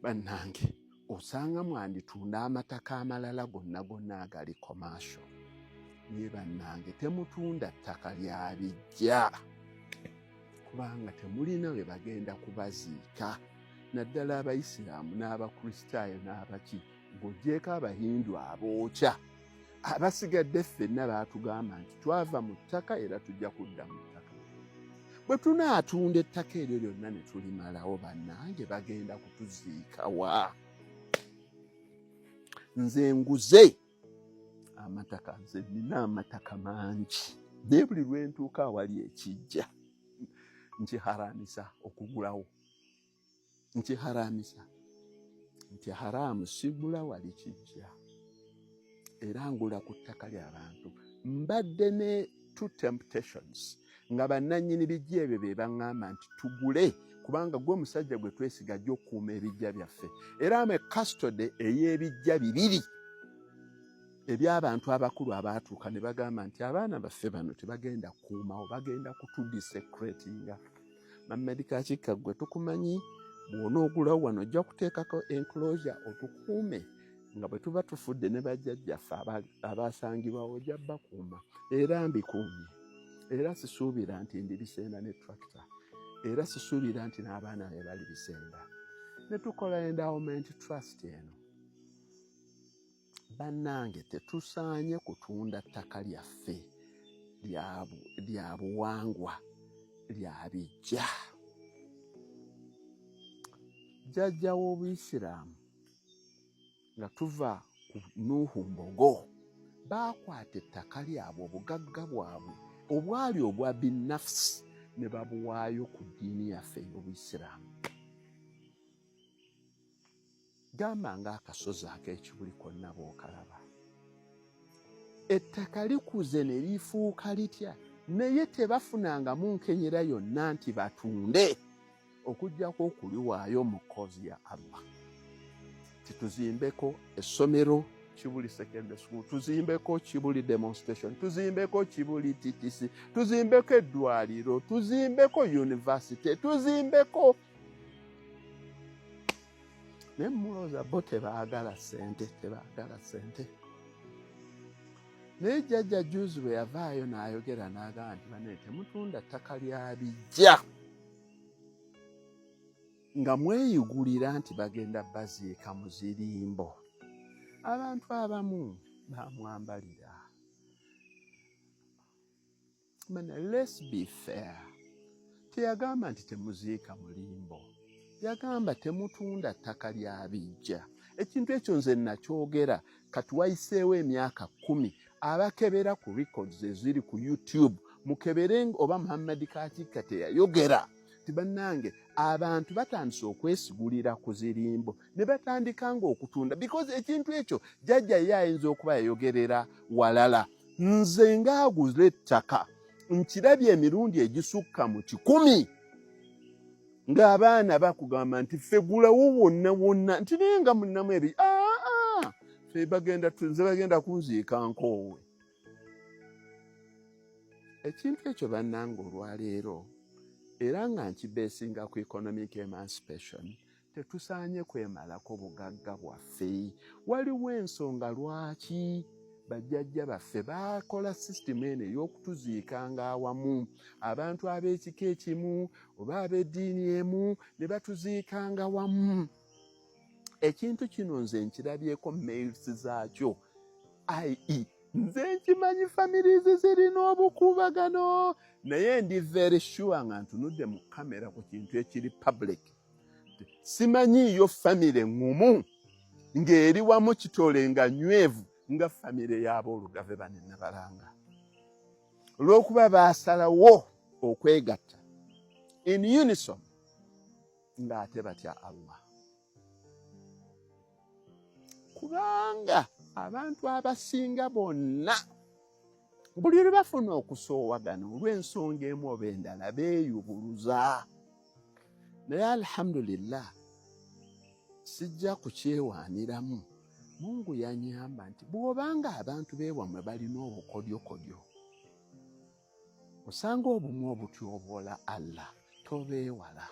bannange osanga mwanditunda amataka amalala gonna gonna agali komasho naye bannange temutunda ttaka lya bijja kubanga temulina we bagenda kubaziika naddala abayisiraamu n'abakristaayo n'abaki ng'ogyeko abahindu abookya abasigadde ffenna baatugamba nti twava mu ttaka era tujja kudda mu ttaka bwe tunaatunda ettaka eryo lyonna ne tulimalawo bannange bagenda kutuziikawa nze nguze amataka nze nina amataka mangi naye buli lwentuuka awali ekijja nkiharaanisa okugulawo nkiharamisa nti haraamu sigula wali kijja era ngula ku ttaka ly'abantu mbadde ne two temptations nga bannannyini bijja ebyo be baŋŋamba nti tugule kubanga gwe omusajja gwe twesiga ajja okukuuma ebijja byaffe era ame kastode ey'ebijja bibiri eby'abantu abakulu abaatuuka ne bagamba nti abaana baffe bano tebagenda kukuumawo bagenda kutudisecretinga Mamed Kakikka gwe tukumanyi bwona ogula wano ojja kuteekako enclosure otukuume nga bwe tuba tufudde ne bajjajjaffe abaasangibwawo ojja bakuuma era mbikuumye era sisuubira nti ndi bisenda ne tractor era sisuubira nti n'abaana be bali bisenda ne tukola endowment trust eno Bannange tetusaanye kutunda ttaka lyaffe lya buwangwa lya bijja. Jjajja w'Obuyisiraamu nga tuva ku Nuuhu Mbogo baakwata ettaka lyabwe obugagga bwabwe obwali obwa binnafusi ne babuwaayo ku ddiini yaffe ey'Obuyisiraamu. gamba ng'akasozi ak'ekibuli konna bw'okalaba ettaka likuze ne lifuuka litya naye tebafunangamu nkenyera yonna nti batunde okuggyako okuliwaayo mu koozi ya allah tituzimbeko essomero kibuli secondary school tuzimbeko kibuli demonstration tuzimbeko kibuli ttc tuzimbeko eddwaliro tuzimbeko yunivasite tuzimbeko naye mulooza bo tebaagala sente tebaagala sente naye jjajja juzi bwe yavaayo n'ayogera n'agamba nti bane temutunda ttaka lya bijja nga mweyigulira nti bagenda baziika mu zirimbo abantu abamu bamwambalira Mana, let's be fair. Teyagamba nti temuziika mulimbo. Yagamba temutunda ttaka lya bijja. Ekintu ekyo nze nakyogera kati wayiseewo emyaka kumi abakebera ku records eziri ku YouTube mukebere oba Muhammad Katikka teyayogera nti bannange abantu batandise okwesigulira ku zirimbo ne batandika nga okutunda because ekintu ekyo jajja ye ayinza okuba yayogerera walala nze ng'aguze ettaka nkirabye emirundi egisukka mu kikumi ng'abaana bakugamba nti ffe gulawo wonna wonna nti naye nga munnamu ebi aa fe bagenda nze bagenda kunziika nkoowe ekintu ekyo bannanga olwaleero era nga nkibeesinga ku economic emancipation Tetusaanye kwemalako bugagga bwaffe. Waliwo ensonga lwaki bajjajja baffe baakola sisitimu eno ey'okutuziikanga awamu abantu ab'ekika ekimu oba ab'eddiini emu ne batuziikanga wamu ekintu kino nze nkirabyeko mails zaakyo ie nze nkimanyi families zirina obukuubagano naye ndi very sure nga ntunudde mu kamera ku kintu ekiri public simanyiiyo famire ŋŋumu ng'eri wamu kitole nga nywevu nga famire y'aboolugave bane nabalanga olw'okuba baasalawo okwegatta in unison ng'ate batya allah kubanga abantu abasinga bonna buli lwe bafuna okusoowagana olw'ensonga emu oba endala beeyubuluza naye alhamdulillah sijja kukyewaaniramu mungu yanyamba nti bw'obanga abantu beewamwe balina obukodyokodyo osanga obumu obutyoboola allah tobeewala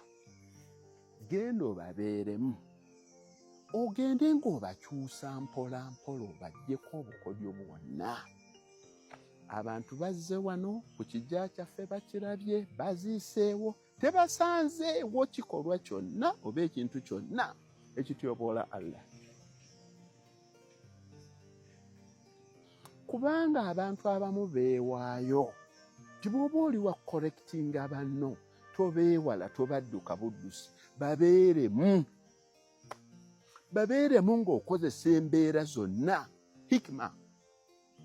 genda obabeeremu ogende ng'obakyusa mpola mpola obajjeko obukodyo bwonna abantu bazze wano ku kijja kyaffe bakirabye baziiseewo tebasanzeewo kikolwa kyonna oba ekintu kyonna ekityoboola allah kubanga abantu abamu beewaayo ti bwoba oli wa korekitinga banno tobeewala tobadduka buddusi babeeremu babeeremu ng'okozesa embeera zonna hikima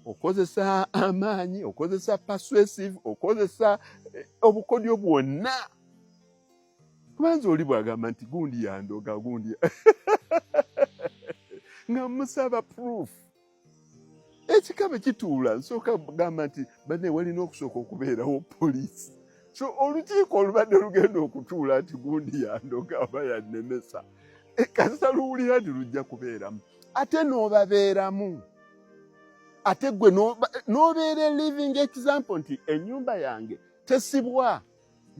okozesa amaanyi okozesa persuasive okozesa eh, obukodyo bwonna kubanza oli bwagamba nti gundi yandoga gundi nga musaba proof ekikabe kituula nsooka gamba nti bane walina okusooka okubeerawo poliisi so olukiiko olubadde lugenda okutuula nti gundi yandoga oba yannemesa ekasa eh, luwulira nti lujja kubeeramu ate n'obabeeramu ate gwe n'obeera living example nti ennyumba yange tesibwa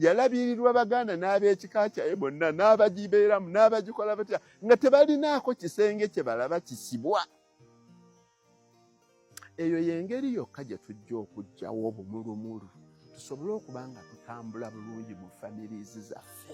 yalabirirwa baganda n'ab'ekika kyaye bonna n'abagibeeramu n'abagikola batya nga tebalinaako kisenge kye balaba kisibwa eyo y'engeri yokka gye tujja okugyawo obumulumulu tusobole okuba nga tutambula bulungi mu families zaffe